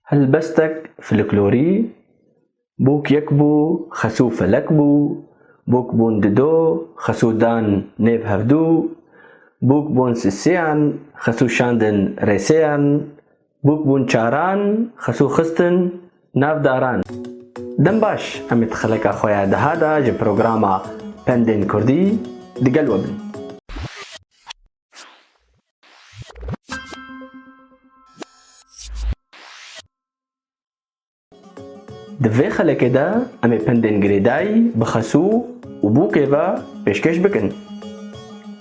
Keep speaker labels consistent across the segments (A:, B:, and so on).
A: Helbestek filiklorî, Bûk yek bû, xesû felek bû, bûk bûn di do, xesû dan nêv hevdû, bûk bûn sisêyan, xesû şandin rêsêyan, bûk bûn çaran, xesû xistin nav daran. Dem baş, em ê di xeleka xwe ya deha de ji programa Pendên Kurdî digel we bin. Di vê xelekê de em ê pindên girêday bi xesû û bûkê ve pêşkêş bikin.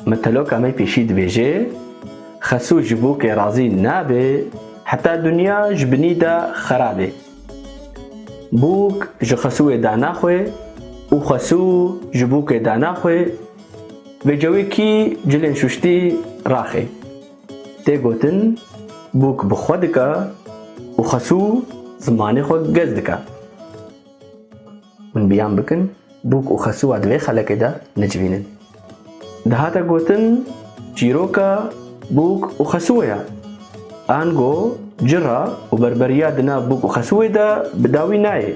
A: Miteloka me pêşî dibêje, Xesû ji bûkê razî nabe heta dinya ji binî de xerabe. Bûk ji xesûê dana xwe û xesû ji bûkê dana xwe Vê cewî kî cilên şuştî raxê. Tê gotin bûk bi xwe dike û xesû zimanê xwe gez dike. Hûn biyan bikin bûk û xesûa di vê xelekê de necivînin. Dihate gotin çîroka bûk û xesûê ye. Ango cira û berberiya di nav bûk û xesûê de bi dawî nayê.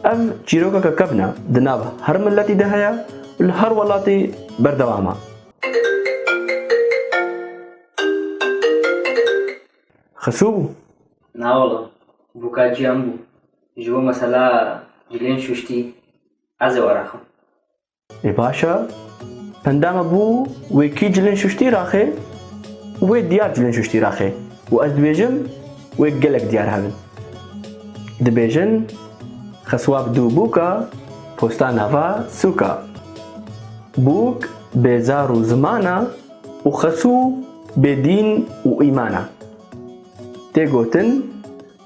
A: Ev çîrokeke kevn e, di nav her miletî de heye û li her welatî berdewam e. Xisû bû? Na wala, bûka cîyan bû. Ji bo mesela cilên şûştî ez ê were xim. Ê baş e. Pendama bû wê kî cilên şuştî raxê û wê diyar cilên şuştî raxê û ez dibêjim wê gelek diyar hebin. Dibêjin xeswab dû bûka posta nava sûka. Bûk bê zar û zimana û xesû bê dîn û îmana. Tê gotin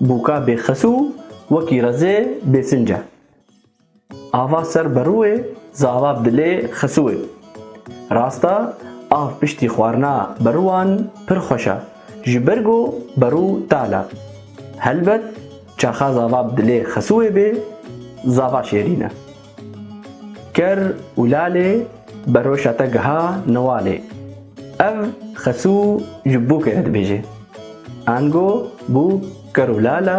A: bûka bê xesû wekî rezê bê sinc e. Ava ser berûê zava dilê xisûê. Rasta av piştî xwarina berûan pir xweş a, ji ber ku berû tal a. Helbet çaxa zava dilê xisûê bê zava şêrîn e. Ker û lalê beroşa te giha niwalê. Ev xisû ji bûkê re dibêje. Ango bûk ker û lala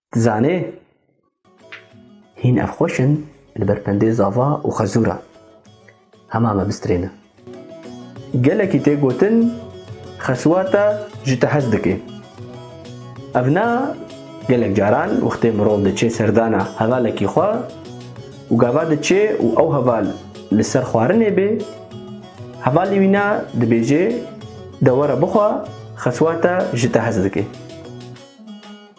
A: Dizanê hîn ev xweş in li ber pendê zava û xezûra. Hema me bistrêne. Gelekî tê gotin xeswata ji te hez dike. Ev na gelek caran wextê mirov diçê serdana hevalekî xwe û gava diçê û ew heval li ser xwarinê bê, hevalî wî na dibêje de were bixwe xeswata ji te hez dike.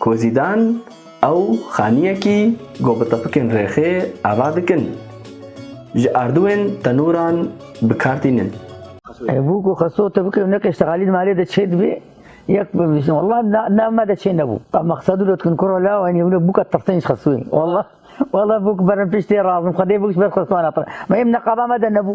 A: Ku Zîdan ew xaniyekî ku bi tepikên rêxê ava dikin, ji ardûyên tenûran bi kar tînin. Bû ku xesto tepikê û neqê ştegalî di malê de çê dibê, yek bi vîşin welleh navê me de çê nebû. Ka Mexsedû lotkin kura la û henî hûna bû ka tirsin ji xestoyê. Welleh welleh bû ku berin piştê razim xwedê bû ji ber xestoan hatibin. Me yê bi neqaba me de nebû.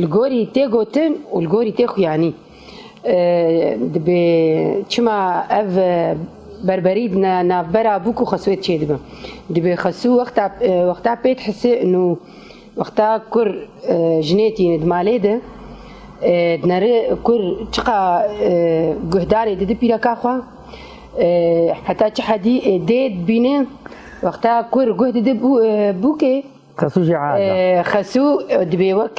A: Li gorî tê gotin û li gorî tê xuyanî dibê çima ev berberî di navbera bûk û xesûyê de çêdibin. Dibê xesû wexta wexta pê dihisi nû wexta kur jinê tîne di malê de di neri kur çiqa guhdarê didi pîreka xwe heta çi hedî dê dibîne wexta kur guh didi bûkê Xesû jî ez e. Xesû dibê wek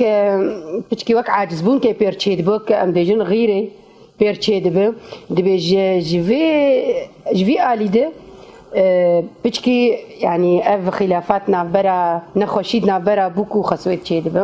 A: piçkî wek acizbûnkê pêr çêdibe wek em bêjin xîrê pêr çêdibe. Dibê ji ji vê ji vî alî de piçkî yanî ev xîlafat navbera nexweşî navbera bûk û xesûê çêdibe.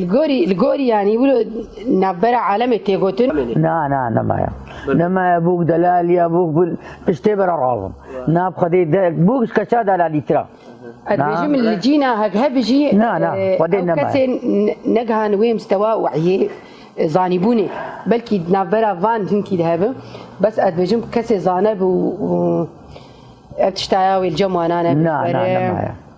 A: Li gorî li gorî yanî wilo navbera alemê tê gotin. Na na nemaya. Nemaya bûk delaliya bûk bil piştê bera razim. Na bi xwedê de bûk ji keça delalî tira. Ez dibêjim li cîna hegheb jî Na na xwedê ew nemaya. kesên ne- negihand wê mistewa wehyê e, zanîbûnê. Belkî di navbera van hinkî de hebin. Bes ez dibêjim kesê zaneb û û ev tişta ya wê li cem wan a nebin. Na na Were. nemaya.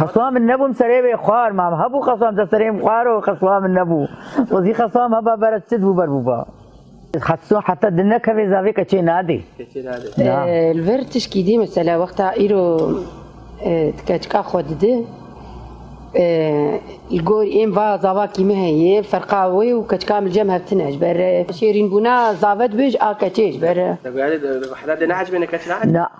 A: Xeswa min nebû em serê vê xwar ma em hebû xeswa em serê em xwar û xeswa min nebû. Xwezî xeswa em heba berz çi dibû ber bûba. Xeswa heta din nekeve zavê keçê nadê. Li vir tişkî dî mesela wexta îro ti keçika xwe didi li gor êm va zavakî min heye ferqa wê û keçika min li cem hev tune ji ber şêrînbûna zave dibê ji a keçê ji ber. Heta dê neecibêne keç na.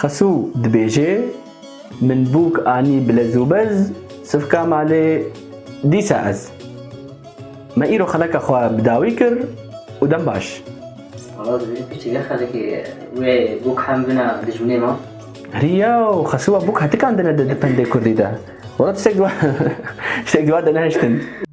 A: Xesû dibêje, Min bûk anî bi lez û bez sivka malê dîsa ez. Me îro xeleka xwe bi dawî kir û dem baş. Wala divê piştî vê xelekê wê bûk hem bina dijminê me. Herî yew, Xesû a bûk hetikandine di di pendê kurdî de. Wala tiştek di wade nehiştin.